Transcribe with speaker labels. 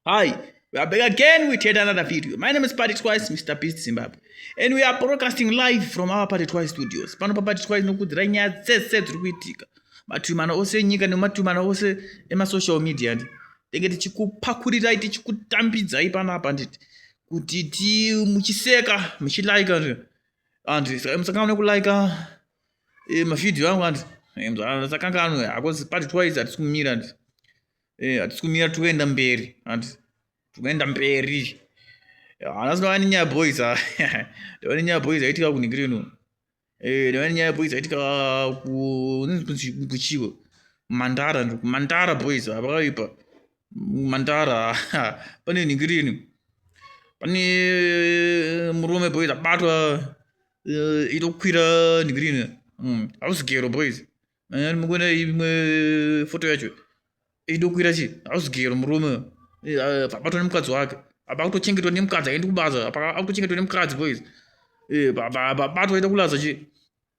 Speaker 1: Hi, we are back again with yet another video. My name is Party Twice, Mr. Beast Zimbabwe. And we are broadcasting live from our Party Twice studios. Pano pa Party Twice nokudzira nyaya dzese dziri kuitika. Matumana ose enyika nematumana ose emasocial media. Tenge tichikupakurirai, tichikutambidzai panapa nditi. Kuti ti muchiseka, muchilaika. and musakanganwe kulike eh, mavhidhiyo angu and eh, musakanganwe hakozi ah, pati twice hatisi kumira and eh, hatisi kumira tikuenda mberi and tikuenda mberi hanas ndava nenyaya boys ah, ndava nenyaya boys aitika kunigirino ndava nenyaya boys aitika kuchiwo mandara mandara boys hapakaipa ah, mantara pane ningirini pane murume boys abatwa eh, itokwira ningirini hmm, hausi gero boys eh, mukuona imwe foto yacho idokwira chi hausi gero murume eh, abatwa nemukadzi wake apa kutochengetwa nemukadzi aendi kubasa apa akutochengetwa nemukadzi boys apa abatwa ita kulaza chi